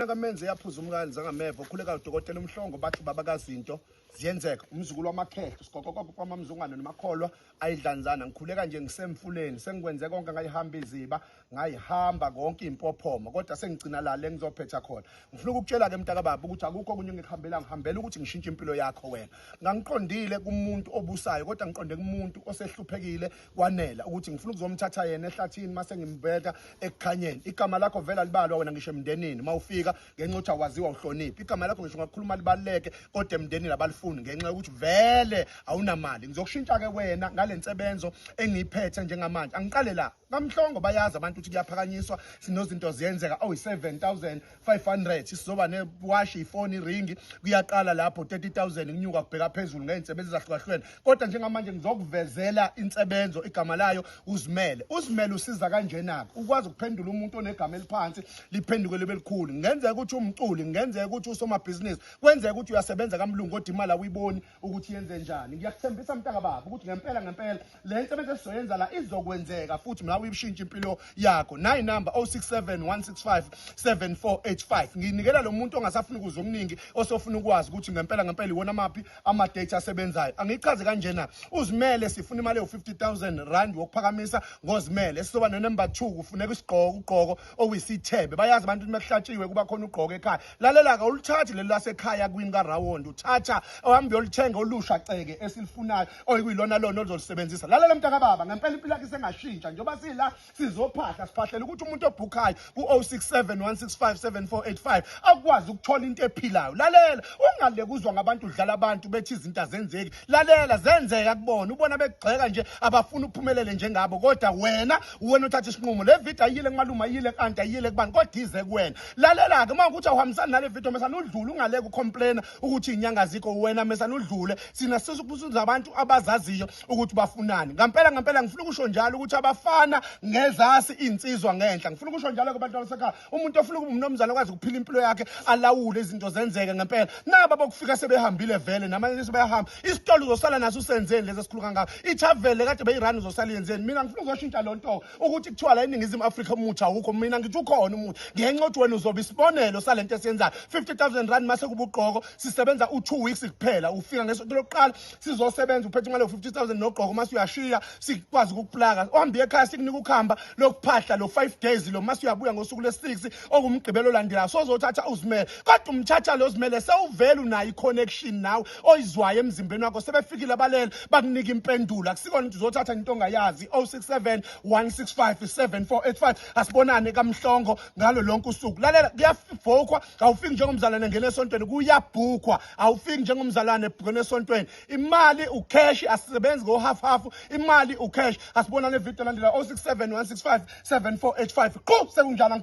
Indodana kaMenze yaphuza umkani zangameva ukhuleka udokotela uMhlongo bathi baba kazinto ziyenzeka umzukulu wamakhehla sigoqoqoqo kwamamzungane nomakholwa ayidlanzana ngikhuleka nje ngisemfuleni sengikwenze konke ngayihamba iziba ngayihamba konke impophoma kodwa sengigcina la le ngizophetha khona ngifuna ukukutshela-ke mntakababa ukuthi akukho okunye ngikuhambela ngihambela ukuthi ngishintshe impilo yakho wena ngangiqondile kumuntu obusayo kodwa ngiqonde kumuntu osehluphekile kwanela ukuthi ngifuna ukuzomthatha yena ehlathini mase ngimbeka ekukhanyeni igama lakho vela libalwa wena ngisho emndenini mawufika ngenxa ukuthi awaziwa uhloniphi igama lakho ngisho ngakukhuluma libaluleke kodwa emndenini abalifuni ngenxa yokuthi vele awunamali ngizokushintsha ke wena ngalensebenzo engiyiphethe njengamanje angiqale la kamhlongo bayazi abantu ukuthi kuyaphakanyiswa sinozinto ziyenzeka oyi 7000 500 sizoba newashi ifoni iringi kuyaqala lapho 30000 kunyuka kubheka phezulu ngey'nsebenzi ezahlukahlukene kodwa njengamanje ngizokuvezela insebenzo igama layo uzimele uzimele usiza kanjena-ke ukwazi ukuphendula umuntu onegama eliphansi liphenduke libe likhulu ngenzeka ukuthi umculi ngenzeka ukuthi usomabhizinisi kwenzeka ukuthi uyasebenza kamlungu kodwa imali awuyiboni ukuthi yenze njani ngiyakuthembisa mntaka baba ukuthi ngempela ngempela le nsebenzi esizoyenza la izokwenzeka futhi mla uyibushintsha impilo yakho nayi number 0671657485 nginikela lo muntu ongasafuni ukuza okuningi osofuna ukwazi ukuthi ngempela ngempela iwona maphi ama-date asebenzayo angichaze kanjena uzimele sifuna imali ewu-50 000 rand wokuphakamisa ngozimele sizoba nenember 2 kufuneka isigqoko ugqoko owisithebe bayazi abantu ukuthi mekuhlatshiwe kuba khona ugqoka ekhaya lalela ka ulithathi leli lasekhaya kwini karawond uthatha ohambe uyolithenga olusha ceke esilifunayo oyikuyilona lona oluzolisebenzisa lalela mntakababa ngempela impilo yakhe sengashintsha njengoba sila sizophahla siphahlela ukuthi umuntu obhukhayo ku-067 165 akwazi ukuthola into ephilayo lalela ungalekuzwa ngabantu udlala abantu bethi izinto azenzeki lalela zenzeka kubona ubona bekugxeka nje abafuna uphumelele njengabo kodwa wena uwena uthatha isinqumo le video ayile kumalume ayile kanti ayile kubani kodwa ize kuwena lalela ke uma ukuthi awuhambisani nale video mesana udlule ungaleke ucomplaina ukuthi inyanga zikho wena mesana udlule sina sisukubuza abantu abazaziyo ukuthi bafunani ngampela ngampela ngifuna ukusho njalo ukuthi abafana ngezasi insizwa ngenhla ngifuna ukusho njalo ke abantu abasekhaya umuntu ofuna ukuba umnomzana kwazi ukuphila impilo yakhe alawule izinto zenzeke ngempela naba bokufika sebehambile vele namanje sebeyahamba isitolo uzosala naso usenzeni lezi esikhulu kangaka ithavele kade beyirani uzosala yenzeni mina ngifuna uzoshintsha loo nto ukuthi kuthiwa la eningizimu afrika umuthi awukho mina ngithi ukhona umuthi ngenxa ukuthi wena uzobe isibonelo sale nto esiyenzayo 50 000 rand mase kuba ugqoko sisebenza u-two weeks kuphela ufika ngesoto lokuqala sizosebenza uphethe imali yo-50000 nogqoko uma suyashiya sikwazi ukukuplaka ohambe ekhaya sikunika ukuhamba lokuphahla lo 5 days lo uma suyabuya ngosuku lwesi-6 ongumgqibelo olandelayo sozothatha uzimele kodwa umthatha lo zimele sewuvele unayo i-connection nawe oyizwayo emzimbeni wakho sebefikile abalele bakunika impendulo akusikona ukuthi uzothatha into ongayazi 067 165 7485 asibonane kamhlongo ngalo lonke usuku lalela kuyafokwa awufiki njengomzalwane ngena esontweni kuyabhukwa awufiki njengomzalwane ebhukene esontweni imali ucash asisebenzi ngohalf half imali ucash asibonane video landela 0671657485 qhu sekunjalo